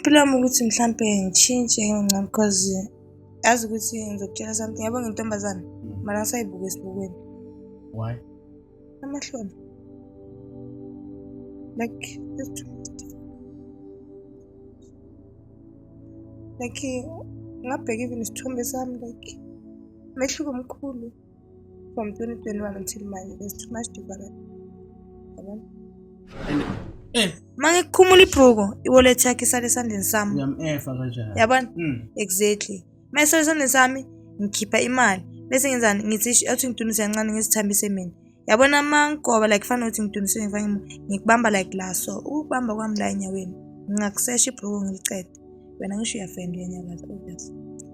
Impilo yami ukuthi mhlampe ngishintshe ngingcono because yazi ukuthi ngizokutshela something yabo ngintombazane hmm. mara ngisayibuka esibukweni. Why? Amahloni. Like like ngabheka even isithombe sami like mehluko mkhulu. from 2021 until manje there's too much difference yabona And eh uma ngikukhumula ibhuku iwallet yakhe isale esandleni sami uyamefa kanjani? yabona Mm. exactly uma isale esandleni sami ngikhipha imali bese ngenzani ngithi "Ish, athi ngidunise kancane ngisithambise mina yabona uma ngigoba like fana ukuthi ngidunise ngifake imu- ngikubamba like la so ukubamba kwami la enyaweni ngingakusesha ibhuku ngiliqede wena ngisho uyafenda uyanyakaza obvious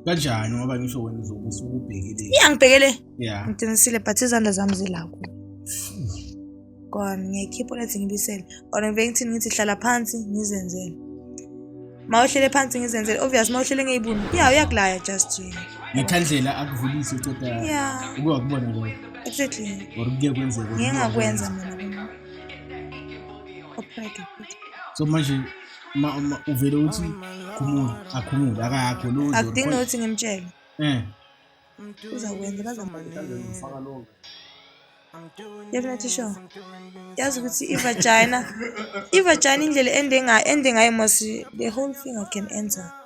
kanjani ngoba ngisho wena uzobe usukubhekile iya ngibhekele yeah ngiqinisile but izandla zami zilakho kona ngiyayikhipha lethi ngibisele or ngiveke ngithini ngithi hlala phansi ngizenzele ma uhlele phansi ngizenzele obvious ma uhlele ngeyibuni ya uyakulaya just nje ngekhandlela akuvulise uqeda ya uke wakubona lokho exactly or kuke kwenzeka ngeke ngakwenza mina upheke so manje uma uma uvele uthi khumula akhumule akakho lo akudingi nokuthi ngimtshele eh uzakwenza bazamfaka lo definitely sure yazi ukuthi ivagina ivagina indlela ende ngayo ende ngayo mos the whole thing i can enter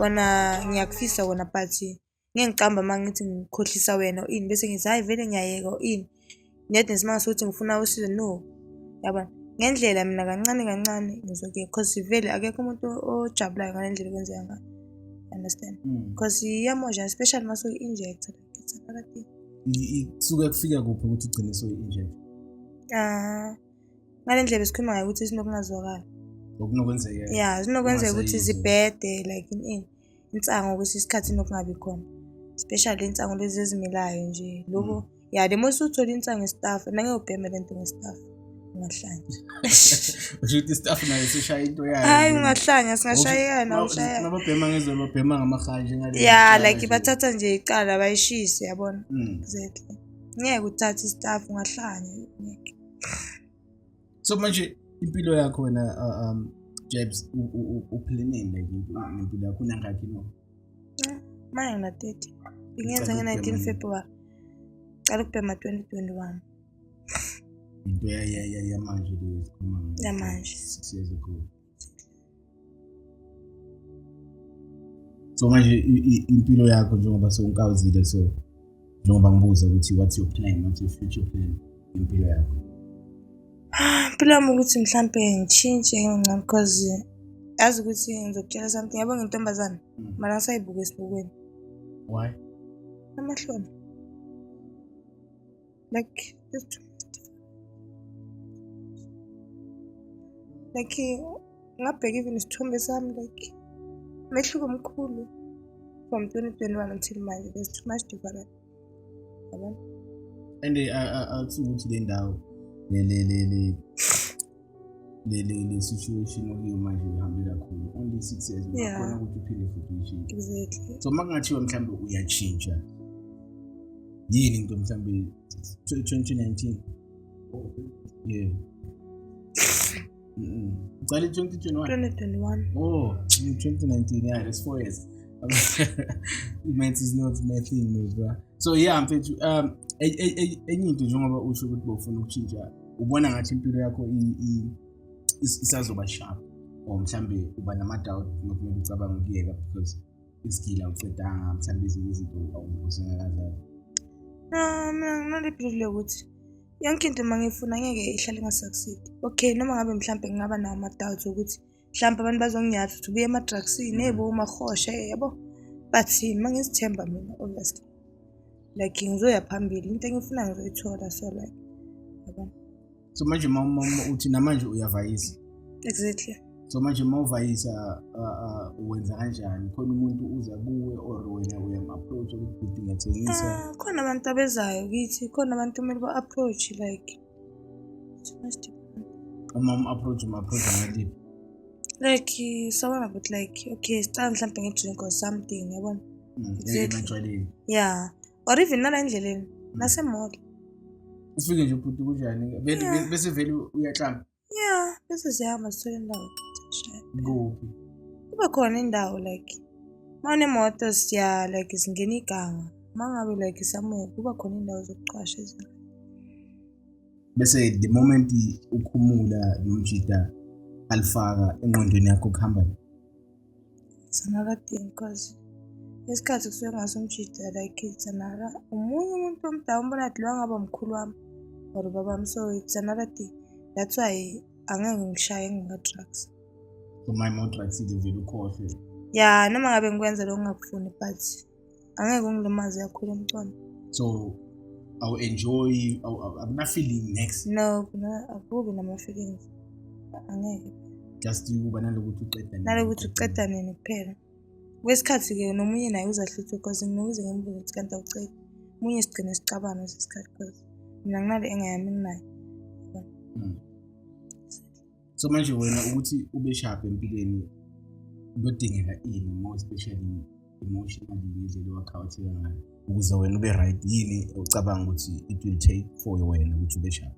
Wena ngiyakufisa wena but ngeke ngiqamba uma ngithi ngikhohlisa wena ini bese ngithi hhayi vele ngiyayeka ini nedi nesimanga sokuthi ngifuna usizo no yabona ngendlela mina kancane kancane ngizoke because vele akekho umuntu ojabulayo ngale ndlela okwenzeka ngayo understand because mm. iyamosha especially uma soyi-injecta phakathi kusuke kufika kuphi ukuthi ugcine soyi-injecta um ah, ngale ndlela besikhuluma ngayo ukuthi sinokungazwakali okunokwenzeka ya zinokwenzeka ukuthi zibhede like in in insango kwesinye isikhathi inokungabi khona especially insango lezi ezimilayo nje lokho mm. ya le mose uthole insango ngestaff nangeyobhema le nto ngestaff ungahlanya usho ukuthi istaff nayo sishaya into yayo hayi ungahlanya singashayekana ushaya nababhema ngezwe babhema ngamakhaya njengale ya like bathatha nje icala bayishise yabona mm. exactly ngeke uthathe istaff ungahlanya ngeke so manje impilo yakho wena uh, um jabs uphileneni like nempilo yakho unangakhi no manje na 30 ingenza nge-19 february cala ukubhema 2021 into yamanje leyo yamanje six years ago so manje impilo yakho njengoba sewunkawuzile so njengoba ngibuza ukuthi what's your plan what's your future plan impilo yakho ah, impilo yami ukuthi mhlampe ngishintshe ngingcam because yazi ukuthi ngizokutshela something yabo ngintombazane hmm. mara ngisayibuka esibukweni why amahloni like just like ngabheka even isithombe sami like mehluko omkhulu from 2021 until manje there's too much different yabona and awuthi ukuthi le ndawo le le le le le le situation okuyo manje uhambe kakhulu only six years uyakhona ukuthi uphinde futhi uyishintshe exactly so uma kungathiwa mhlawumbe uyatshintsha yini into mhlawumbe 2019 yeah uqale 2021 2021 oh 2019 yeah that's four years maths is not my thing mfethu so yeah mfethu um enye into njengoba usho ukuthi bofuna ukutshintsha ubona ngathi impilo yakho isazoba sharp or mhlambe uba nama-doubt nokumele ucabanga ukuyeka because isigila ucedanga mhlambe ezinye izinto usengakazazi ah, mina nginalephilile ukuthi yonke into uma ngiyifuna ngeke ihlale ingasucceed okay noma ngabe mhlawumbe ngingaba nawo ama-doubts okuthi mhlawumbe abantu bazonginyatha ukuthi ubuye emadrugsini mm. ebo umahoshe yabo but yini uma ngizithemba mina honest like ngizoya phambili into engifuna ngizoyithola so like yabo so manje mama uthi namanje uyavayisa exactly so manje uma uvayisa wenza kanjani khona umuntu uza kuwe or wena uyam-approach ukuthi ngiyathengiswa ah, khona abantu abezayo kithi khona abantu kumele ba-approach like uma um-approach um-approach ngaliphi like sawona but like okay sicala mhlawumbe ngidrink or something yabona mm, ematshwaleni ya or even nala endleleni mm. nasemall ufike nje ubhuti kunjani bese vele uyahlamba ya bese siyahamba sithole indawo kuphi kube khona indawo like uma unemoto siya like singena iganga uma ngabe like somewhere kuba khona indawo zokuqasha ezinto bese the moment ukhumula nomjita alifaka engqondweni yakho kuhamba Sanara diyeyim kazi. Ngesikhathi kusuke ngasumjidela ikhili Sanara omunye umuntu omdala umbona athi lowa ngaba mkhulu wami or baba wami so it's another thing that's why angeke ngishaye ngingaka-drugs umay modrugs ivele ukhohlwe ya noma ngabe ngikwenza lokho ngingakufuni but angeke ungilimaze kakhulu umntwana so awu-enjoy akunafeeling next no akubi nama-feelings angeke just ukuba nalokuthi uqeda nalokuthi uqeda nini kuphela kwesikhathi-ke nomunye naye uzahluthe because nginokuze ngimbuze ukuthi kanti awucedi omunye sigcine sicabana sesikhathi because mina nginale engayami nginayo mm. so manje wena ukuthi ube sharp empilweni kudingeka ini more especially emotionally ngendlela owakhawatheka ngayo ukuze wena ube right yini ucabanga ukuthi it will take for wena ukuthi ube sharp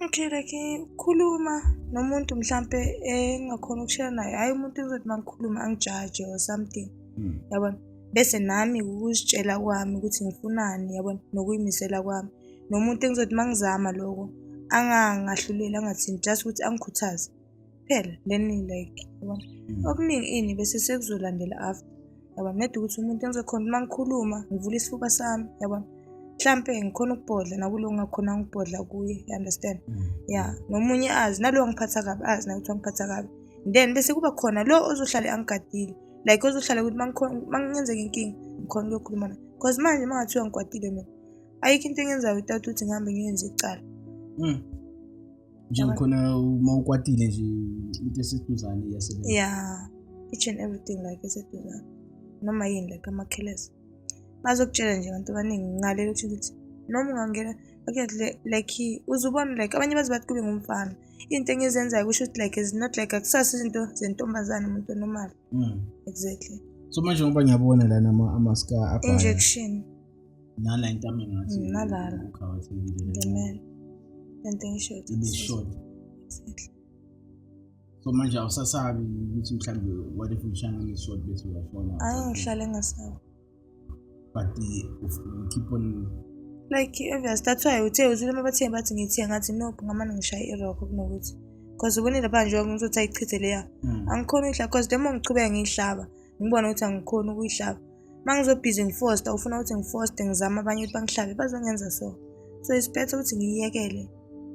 okay like khuluma nomuntu mhlampe engakhona ukushela naye hhayi umuntu uzothi uma ngikhuluma angijaje or something hmm. yabona bese nami ukuzitshela kwami ukuthi ngifunani yabona nokuyimisela kwami nomuntu engizothi uma ngizama loko angangahluleli angathini just ukuthi angikhuthaze kuphela then like yabona mm. okuningi ini bese sekuzolandela after yabona nedi ukuthi umuntu engizokhona uma ngikhuluma ngivula isifuba sami yabona mhlampe ngikhona ukubhodla nakulo ngakhona ngibhodla kuye you understand mm. ya nomunye azi nalo angiphatha kabi azi naye ukuthi angiphatha kabi then bese kuba khona lo ozohlale angigadile like ozohlala ukuthi uma ngenzeka inkinga ngikhona ukuyokhuluma naye because manje uma ngathiwa ngikwatile mina ayikho into engenza without ukuthi ngihambe ngiyenze icala mm. nje ngikhona uma ukwatile nje into eseduzane iyasebenza ya each and everything like eseduzane noma yini like amakhelesi bazokutshela nje abantu abaningi ngalelo kusho ukuthi noma ungangena okay like uzubona like abanye bazi bathi kube ngumfana into engizenzayo kusho ukuthi like is not like akusasi izinto zentombazane umuntu onomali mm. exactly so manje ngoba ngiyabona lana ama-ska injection nala into ami ngathi mm, nalala uqhawethekile the man and then short ibe short exactly so manje awusasabi ukuthi mhlawumbe what if ushana nge-short bese uyafona ayi ngihlale ngasabi but uh, keep on like obvious that's why uthe uzile uma bathe bathi ngithiye ngathi nope ngamane ngishaya iroko kunokuthi because ubonile pha njengoba ngizothi ayichithe leya mm. angikhona uyidla because le ma ngichubeka ngiyihlaba ngibone ukuthi angikhoni ukuyihlaba uma ngizobhizi ngifosta ufuna ukuthi ngifoste ngizame abanye ukuthi bangihlabe bazongenza so so isiphethe ukuthi ngiyiyekele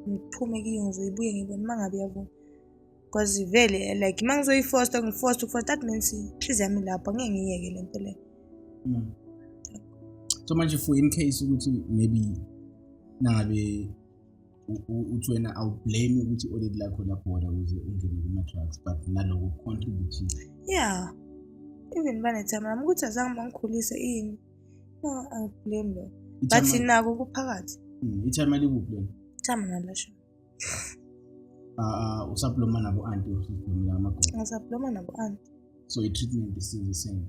ngiphume kiyo ngizoyibuye ngibone uma ngabe yavuma because vele like uma ngizoyifosta ngifosta ukufosta that means inhliziyo yami lapho ngeke ngiyeke le nto leyo hmm. so manje for in case ukuthi maybe nangabe uthi wena awublame ukuthi i-audit lakho labhoda ukuze ungene kuma-drugs but naloko contribute yeah even banethama nami ukuthi azange bangikhulise ini no awublame lo but nako kuphakathi hmm, ithama likuphi lona ithama nalasho uh, usabloma nabo anti usablomela amagoda ngisabloma nabo anti so i-treatment is still the same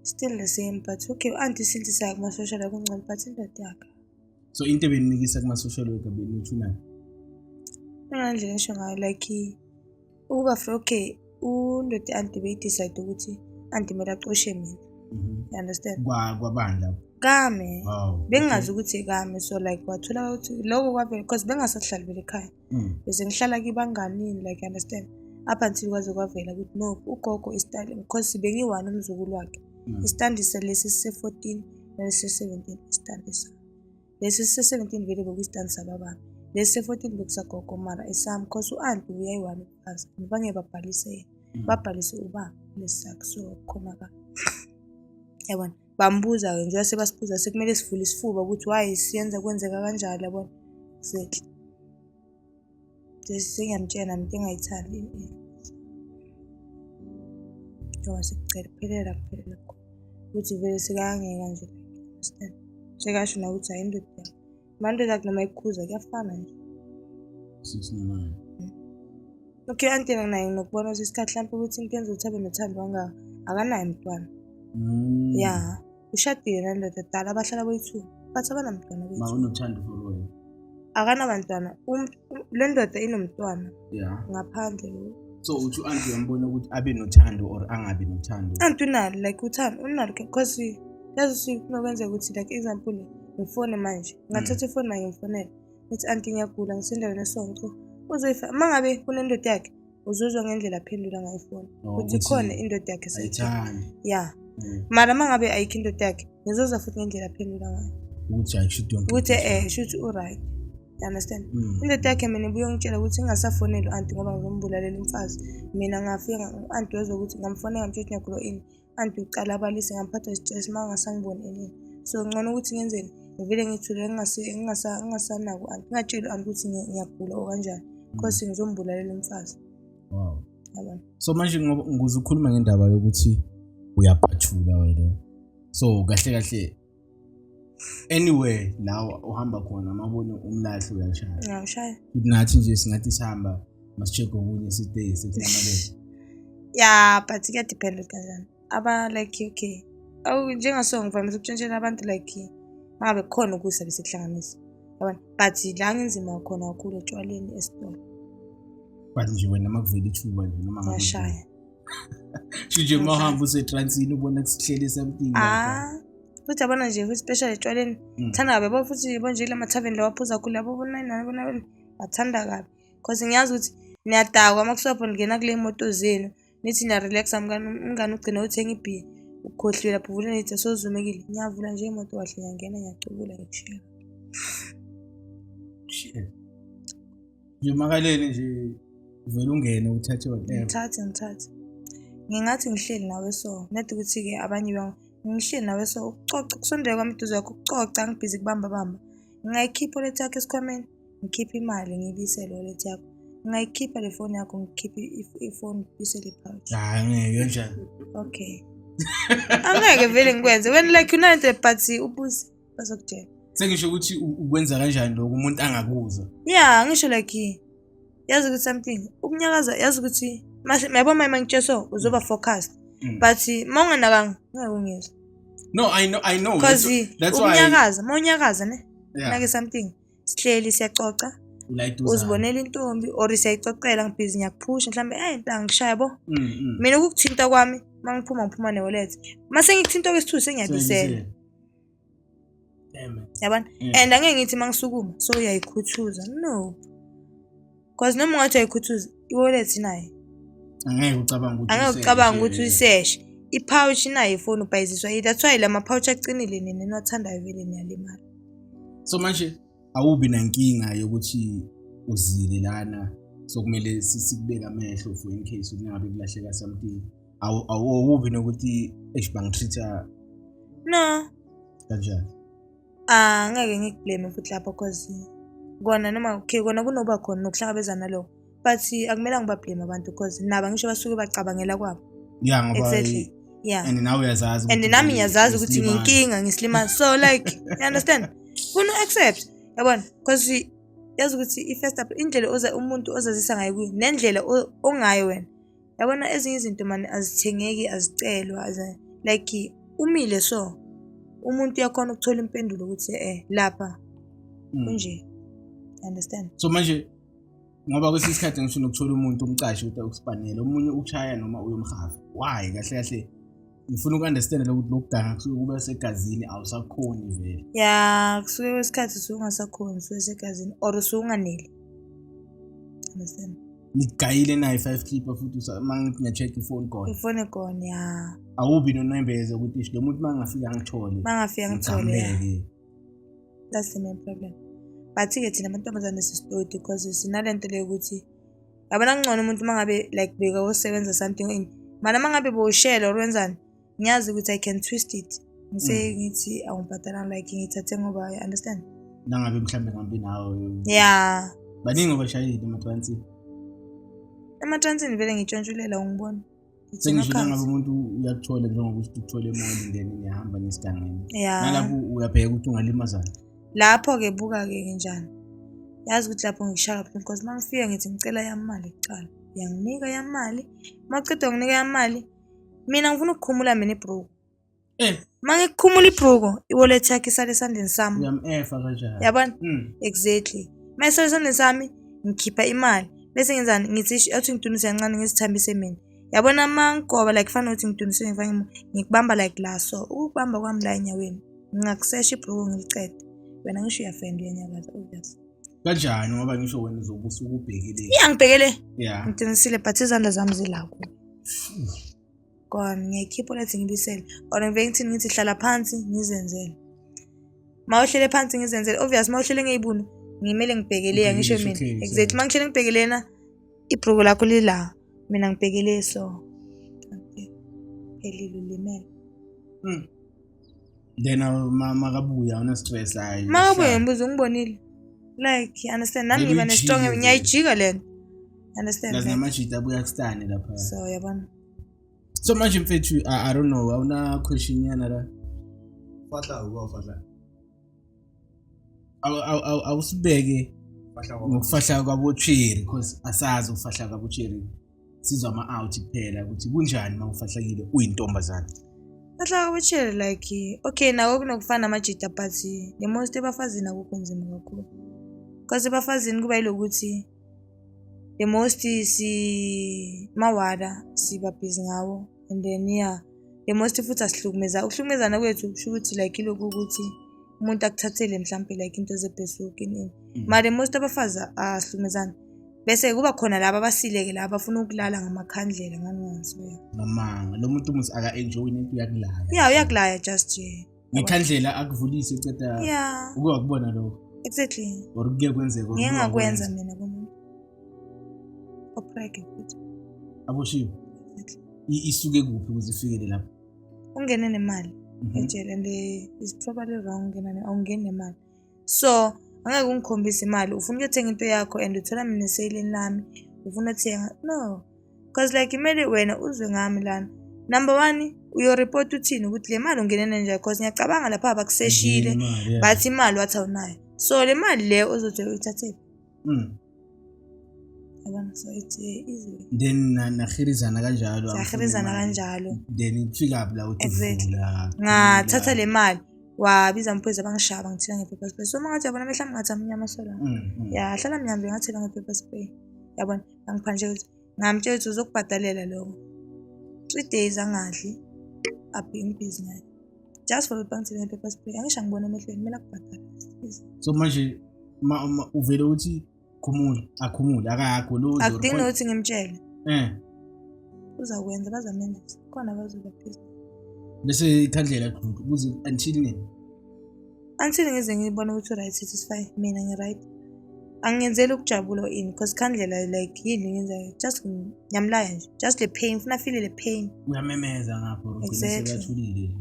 still the same but okay u-anti since sayakumasosha la kungcono but indoda yakhe so into ebenimikisa kuma-social worker benithunani angandle ngisho ngayo like ukuba for okay undoda anti beyidecide ukuthi anti kumele acoshe mina mhm. you understand kwabandla kame bengingazi ukuthi kame so like wathola ukuthi loko kwavele because bengasahlali bele ekhaya mm. bese ngihlala kibanganini like you understand up until kwaze kwavela ukuthi no ugogo istyle because bengiyi-one umzukulu wakhe mm. istandi lesi sise-fourteen nalesi sise-seventeen istandi sa lesi sise-seventeen vele bekuyistandi sababami lesi sise-fourteen bekusagogo mara esami because u-anti uyayi-one umfazi ngibange babhalise yena mm. babhalise ubaba lesi sakhe so khona ka yabona bambuza-ke njengoba sebasibuza sekumele sivule isifuba ukuthi why siyenza kwenzeka kanjalo yabona zethu sengiyamtshela mntu engayithandi njengoba sekucela kuphelela kuphelela khona ukuthi vele sekangeka nje sekasho nakuthi hayi indoda Mande sagt nochmal Kusa, ja, Fahne. Das ist normal. Okay, anti na naye nokubona ukuthi isikhathi hlampe ukuthi into yenza ukuthi abe nothando wanga akanaye mntwana mm. ya ushadile nandoda dala abahlala boyi-two but abanamntwana boyi-two unothando for wena akanabantwana le ndoda inomntwana yeah. ngaphandle so uthi u-anti uyambona ukuthi abe nothando or angabi nothando anti unalo like uthando unalo because yazi sifuna kwenzeka ukuthi like example ngifone manje ngathatha mm. ifoni manje ngifonele ngithi anti ngiyagula ngisendaweni esonco uzoyifa uma ngabe kunendoda yakhe uzuzwa ngendlela aphendula ngayo ifoni oh, ukuthi khona indoda yakhe seyithanda ya mm. mara uma ngabe ayikho indoda yakhe ngizozwa futhi ngendlela aphendula ngayo ukuthi ayishuthi ukuthi eh shuthi uright You understand? Mm. Indoda yakhe mina ibuyongitshela ukuthi ingasafoneli u-anti ngoba ngizombulalela umfazi. Mina ngafika u-anti wezwa ukuthi ngamfonela ngisho ukuthi ngiyagulo ini. Anti uqala abalise ngamphatha isistress uma ngasangiboni enini. So ngcono ukuthi ngenzeni? Ngivele ngithule ngingasanaki u-anti. Ngingatsheli u-anti ukuthi ngiyagula or kanjani. Because mm. ngizombulalela umfazi. Wow. Yabona. So manje ngoba ngizokhuluma ngendaba yokuthi uyaphathula wena. So kahle kahle anywhere la uhamba khona mabone umlahle uyashaya uyashaya nathi nje singathi sihamba masicheck okunye sitay sekunamalele ya but kuyadepend kanjani aba like okay awu njengaso ngivamise ukutshentshela abantu like ngabe khona ukusa besekuhlanganisa yabona but la ngenzima khona kakhulu etshwaleni esitolo but nje wena makuvela ithuba nje noma ngashaya shuje uma uhamba usetransini ubona kusihleli something ah futhi abona nje futhi special etshwaleni mm. thanda kabi yabo futhi yabo nje lama tavern lawa phuza khulu yabo bona nani bona bathanda kabi cause ngiyazi ukuthi niyadakwa uma kusapho ningena kule moto zenu nithi niyarelaxa umngane ugcina uthenga ibhiya ukhohliwe lapho uvula nithi sozumekile ngiyavula nje imoto kahle ngiyangena ngiyacubula ngikushela nje makalele nje uvele ungene uthathe whatever ngithathe ngithathe ngingathi ngihleli nawe so not ukuthi-ke abanye bang ngihleli nawe so ukucoca kusondela kwami duze yakho ukucoca ngibhizi kubamba bamba ngingayikhipha olet yakho esikhwameni ngikhiphe imali ngibisele olet yakho ngingayikhipha le foni yakho ngikhiphe ifoni ngibisele ipouch hayi ngeke kanjani okay angeke vele ngikwenze wena like unante but ubuze bazokudela sengisho ukuthi ukwenza kanjani lokho umuntu angakuzwa ya ngisho like yazi ukuthi something ukunyakaza yazi ukuthi yabo uma mangitsheso uzoba mm. focused mm. but uma unganakanga ngeke ungizwe no i know i know because ukunyakaza uma unyakaza ne nake something sihleli siyaxoxa uzibonela intombi or siyayixoxela ngibhizi ngiyakuphusha mhlawumbe eyi nta ngishaya bo mm, mina ukukuthinta kwami uma ngiphuma ngiphuma ne-wallet uma sengikuthinta okwesithuthi sengiyabisela yabona mm. and angeke ngithi uma ngisukuma so uyayikhuthuza no cause noma ungathi uyayikhuthuza i-wallet inayo angeke ucabanga ukuthi angeke ucabanga ukuthi uyiseshe i-pouch inayo ifoni ubhayiziswa yi that's why la ma-pouch aqinile nina enothandayo vele niyalimala so manje awubi nankinga yokuthi uzile lana sokumele sikubeke amehlo for in case kungabe kulahleka something awubi nokuthi eish bangitreat-a no kanjani ah ngeke ngikublame futhi lapho cause kona noma okay kona kunoba khona nokuhlangabezana lokho but akumele ngibablame abantu cause nabo ngisho basuke bacabangela kwabo ya ngoba exactly yeah and nawe uyazazi and nami ngiyazazi ukuthi nginkinga ngisilimaza so like you understand funa u-accept yabona cause yazi ukuthi i-first up indlela oza umuntu ozazisa ngayo kuyo nendlela ongayo wena yabona ezinye izinto mani azithengeki azicelwa like umile so umuntu uyakhona ukuthola impendulo ukuthi eh lapha hmm. kunje understand so manje ngoba kwesinye isikhathi ngifuna ukuthola umuntu umcashi ukuthi ukuspanele omunye ukushaya noma uyomhafa why kahle kahle ngifuna uku-understand lokuthi lokuganga kusuke kuba segazini awusakhoni vele ya kusuke kwesikhathi usuke ungasakhoni usuke segazini or usuke unganeli understand ngigayile nayo i-five clipper futhi uma ngithi ngiya-check ifoni khona ifoni khona ya awubi nonembeze ukuthi isho lo muntu uma ngingafika ngithole uma ngafika ngithole that's the main problem but-ke thina amantombazane sisitodi because sinale nto leyo ukuthi yabona kungcono umuntu uma ngabe like beka wosebenza something in mana uma ngabe bowushela or wenzani ngiyazi ukuthi i can twist it ngise mm. ngithi awungibhadalanga like ngithathe ngoba i understand nangabe mhlawumbe ngambi nawe ya baningi obashayile ematransini ematransini vele ngitshontshulele ungibona sengisho nangabe umuntu uyakuthola njengoba uthi uthole imali then niyahamba nesigangeni nalapho uyabheka ukuthi ungalimazana lapho-ke buka-ke njani yazi ukuthi lapho ngishaya kabuhlungu because uma ngifika ngithi ngicela yamali kuqala yanginika yamali uma uceda nginika yamali mina ngifuna ukukhumula mina ibroke Eh, Uma ngikukhumula ibhuku, i-wallet yakhe isale esandleni sami. uyam-efa kanjani? Yabona? Mm. Exactly. Uma isale esandleni sami, ngikhipha imali. Bese ngenzani? Ngithi ish- athi ngidunise kancane ngizithambise mina. Yabona uma ngigoba like fana ukuthi ngidunise ngifake imo, ngikubamba like la so. Ukukubamba kwami la enyaweni, ngingakusesha ibhuku ngiliqede. Wena ngisho uyafenda uyanyakaza. Oh, yes. kanjani ngoba ngisho wena uzobe usukubhekile Iya ngibhekele. ya Ngiqinisile but izandla zami zilaku. go on ngiyayikhipha ulethe ngibisele or ngiveke ngithini ngithi hlala phansi ngizenzele ma uhlele phansi ngizenzele obvious ma uhlele ngeyibunu ngimele ngibhekeleya ngisho mina exactly ma ngihlele ngibhekelena ibruku lakho lila mina ngibhekele so phelile ulimele mm. then uh, ma- makabuya awuna stress hayi makabuye hlala. ngibuza ungibonile like you understand nami Maybe ngiba ujike nesitong vele. ngiyayijika le nto You understand Nazi like, namajita abuya kustani lapha so yabona so manje mfethu I, i don't know awuna question yana la Fahla uba fahla. Awu- awu- awu- awusibeke Fahla uba. ngokufahla kwabocheri because asazi ukufahla kwabocheri sizwa ama-out kuphela ukuthi kunjani uma ufahlakile uyintombazane bahlaka betshere like okay nako kunokufana amajita but the most ebafazini akukho nzima kakhulu because ebafazini kuba yilokuthi the most si mawada siba busy ngawo and then yeah the most futhi asihlukumeza ukuhlukumezana kwethu kusho ukuthi like ilokhu ukuthi umuntu akuthathele mhlawumpe like into zebhesuki nini mm. mara the most abafazi asihlukumezana bese kuba khona laba abasileke laba bafuna ukulala ngamakhandlela ngangiwangiswela ngamanga lo muntu umuthi aka-enjoyi nento uyakulaya ya uyakulaya just nje ngekhandlela akuvulise uceda ya uke wakubona lokho exactly or kuke kwenzeka ngeke ngakwenza mina komuntu oprege futhi aboshiwe isuke kuphi ukuze ifikele lapho ungene nemali mhm. ejele and is probably wrong ungena awungeni nemali so angeke ungikhombise imali ufuna ukuyothenga into yakho and uthola mina eseyilini lami ufuna uthenga no because like kumele wena uzwe ngami lana number one uyoreport uthini ukuthi le mali ungenene nje because ngiyacabanga lapha bakuseshile bathi imali wathi awunayo so le mali le ozothi uyithathephi mm. yabona so it's eh, izwe then nahirizana kanjalo sahirizana kanjalo then kufika phi la uthi exactly ngathatha le mali wabiza amaphoyisa bangishaya bangithela nge-paper spray so uma ngathi yabona mehla mngathi amnyama sola mm, mm. yahlala mnyambe ngathela nge-paper spray yabona bangiphandle ukuthi Ngamtshela ukuthi uzokubhadalela lokho. Three days angadli, abheke imphizi naye. Just for ukuthi bangithele nge-paper spray. Angisho angibona emehlweni, kumele akubhadale. Please. So manje ma, ma, uvele uthi khumula, akhumule, akayagolozi. or Akudingi khona- ukuthi ngimtshele. Eh, Uzakwenza, bazamenzisa. Khona bazoba phezu. bese ikhandlela kududu kuze until nini? Until ngize ngibone ukuthi u-right satisfy mina ngi-right. Angenzeli ukujabula or ini because khandlela like yini ngenzayo just ngiyamlaya nje just le pain ngifuna afile le pain. Uyamemeza ngapho ugcine Exactly. sekathulile.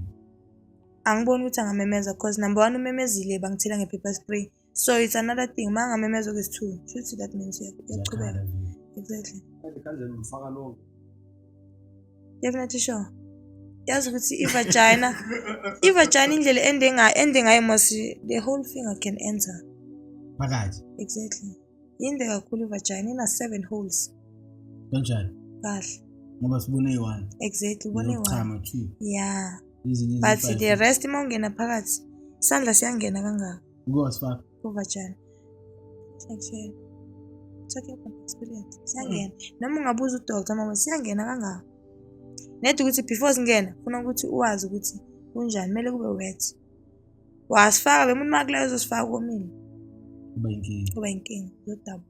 Angiboni ukuthi angamemeza because number one umemezile bangithela nge-paper spray. So it's another thing uma angamemeza okwesi-two shuthi that means uya- uyaqhubeka. Zakhala nje. Exactly. Kanje kanje ngifaka lonke. Yakuletha isho. Yazi ukuthi i-vagina, i-vagina indlela ende ngayo, ende ngayo mos the whole finger can enter. Phakathi. Exactly. Yinde kakhulu i-vagina, ina seven holes. Kanjani? Kahle. Ngoba sibone eyi-one. Exactly, ubone eyi-one. Chama two. Yeah. But the rest uma ungena phakathi, isandla siyangena kangaka. Ukuyosifaka. Overjane. Siyangishela. Talking from experience. Siyangena. Mm. Noma ungabuza udoktor mama siyangena kangaka. Nedi ukuthi before singena funa ukuthi uwazi ukuthi kunjani kumele kube wet. Wasifaka bemuntu makulayo uzosifaka komile. Kuba inkinga. Kuba inkinga. Uzodabuka.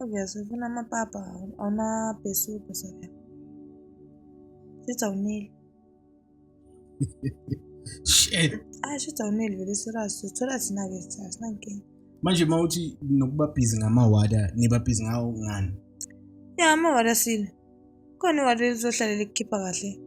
Obviously ufuna amapapa awunabhesubhe saka. Shuthi awuneli. Shit. Ah shuthi awuneli vele serious uthola thina ke cha sinankinga. Manje uma uthi nokuba busy ngamawada niba busy ngawo ngani? Ya amawada sile. Khona iwada elizohlala likhipha kahle.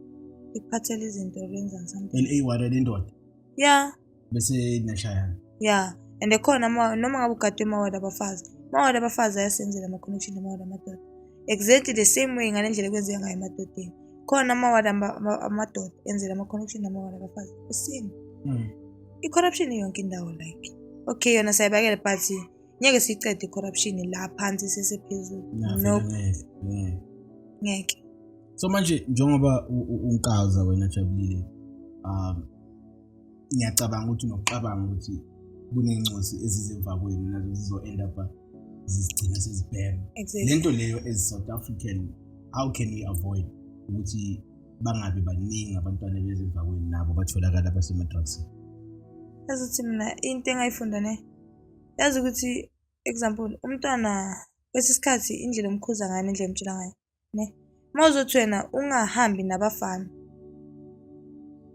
Likuphathela izinto lenza something. LA wada lendoda. Ya. bese niyashayana ya and khona ma- noma ngabe ugadwe emawadi abafazi amawadi abafazi ayasenzela ama-connection amawadi amadoda exactly the same way ngale ndlela ekwenzeka ngayo emadodeni khona amawadi ama- ama- amadoda enzela ama-connection amawadi abafazi the same Mm. i-corruption yonke indawo like okay yona sayibakele but ngeke siyiqede i-corruption la phansi sesephezulu Nah, no vele ngeke, ngeke. ngeke so manje njengoba u- u- unkaza wena jabulile um ngiyacabanga ukuthi nokucabanga ukuthi kunencosi ezizemva kwenu nazo zizo-end up zizigcina sezibhema le nto leyo as south african how can we avoid ukuthi bangabi baningi abantwana bezemva kwenu nabo batholakala basemadrugsini yazi ukuthi mina into engayifunda ne yazi ukuthi example umntwana kwesinye isikhathi indlela omkhuza ngayo nendlela omtshela ngayo ne uma uzothi wena ungahambi nabafana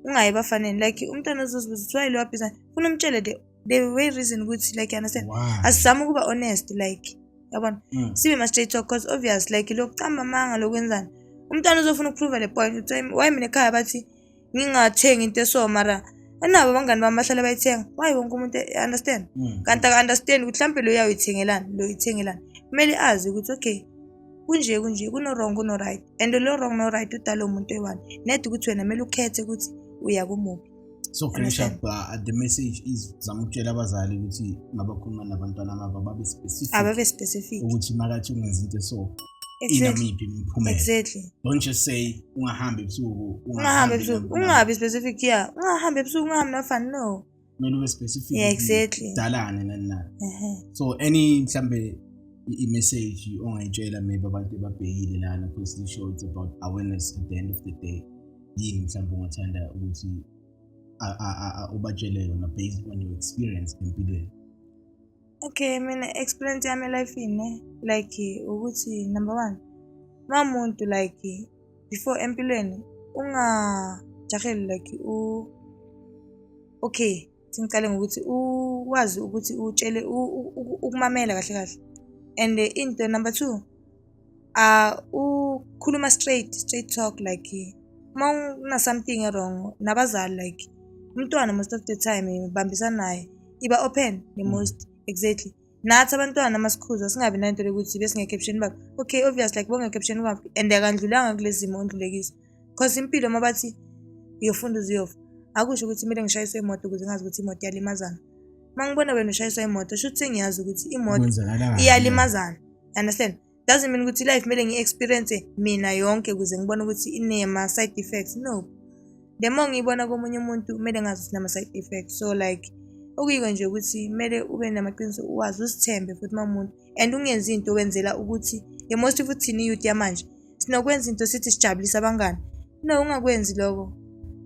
ungayi ebafaneni like umntwana uzozibuza ukuthi why lo wabhiza funa umtshele the the way reason ukuthi like you understand Why? asizame ukuba honest like yabona Mm. sibe ma straight talk because obvious like lokucamba amanga lokwenzani umntwana uzofuna ukuprove le point ukuthi why- why mina ekhaya bathi ngingathengi into eso mara anabo abangani bami bahlale bayithenga why wonke umuntu understand mm. kanti aka-understand ukuthi mhlawumbe lo uyawuyithengelani lo uyithengelani kumele azi ukuthi okay kunje kunje kuno-wrong kuno-right and lo wrong no-right udala umuntu eyi-one nede ukuthi wena kumele ukhethe ukuthi uya kumuphi so finish up uh, the message is zama ukutshela abazali ukuthi mabakhuluma nabantwana babo babe specific ababe specific ukuthi makathi ungenza into so inamiphi imiphumela exactly don't just say ungahambi ebusuku ungahambi ebusuku ungabi specific yeah ungahambi ebusuku ungahambi nafani no kumele ube specific yeah exactly dalane nani nani so any mhlambe i-message ongayitshela maybe abantu ebabhekile lana because this show it's about awareness at the end of the day yini mhlawumbe ungathanda ukuthi ubatshele yona based on your experience empilweni Okay, mina experience yami elifini ne like ukuthi number one uma umuntu like before empilweni ungajaheli like u okay singiqale ngokuthi ukwazi ukuthi utshele ukumamela kahle kahle and into number two uh, ukhuluma straight straight talk like uma una something wrong nabazali like umntwana most of the time ubambisana naye iba open the mm. most exactly nathi abantwana amasikhuza singabi nanto lokuthi besingekepsheni bakhe okay obvious like bongekepsheni kwakhe and akandlulanga kule zimo ondlulekisa because impilo uma bathi uyofunda uziyofa akusho ukuthi kumele ngishayiswe imoto ukuze ngazi ukuthi imoto iyalimazana uma ngibona wena ushayiswa imoto shuthi sengiyazi ukuthi imoto iyalimazana understand doesn't mean ukuthi life kumele ngi-experience mina yonke kuze ngibone ukuthi inema-side effects no the more ngiyibona komunye umuntu kumele ngazi ukuthi nama-side effects so like okuyiko nje ukuthi kumele ube namaqiniso uwazi uzithembe futhi uma muntu and ungenzi into wenzela ukuthi the most futhi thina iyouth yamanje sinokwenza into sithi sijabulise abangani no ungakwenzi lokho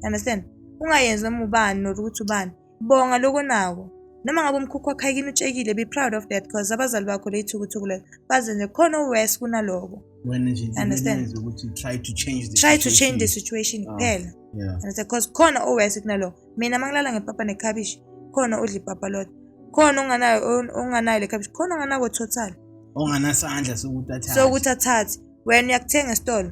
understand ungayenzi noma ubani nor ukuthi ubani Bonga lokho nawo. Noma ngabe umkhukhu wakho ayikini utshekile be proud of that because abazali bakho leyithukuthuku lelo baze nje khona owes kunaloko. Wena nje understand ukuthi try to change the try situation. to change the situation ah, kuphela. Oh, yeah. Understand because khona owes kunaloko. Mina mangilala ngepapa nekhabishi khona odla ipapa lodwa. Khona onganayo onganayo lekhabishi khona onganako total. Onganasandla sokuthi athathe. Sokuthi athathe. Wena uyakuthenga esitolo.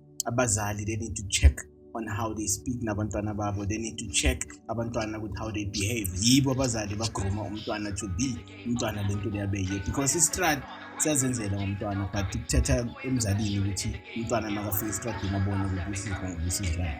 abazali they need to check on how they speak nabantwana babo they need to check abantwana ukuthi how they behave yibo abazali bagruma umntwana to be umntwana lento liyabe yiyo because istrad siyazenzela ngomntwana but kuthatha emzalini ukuthi umntwana makafika estradini abone ukuthi usizwa ngokusizayo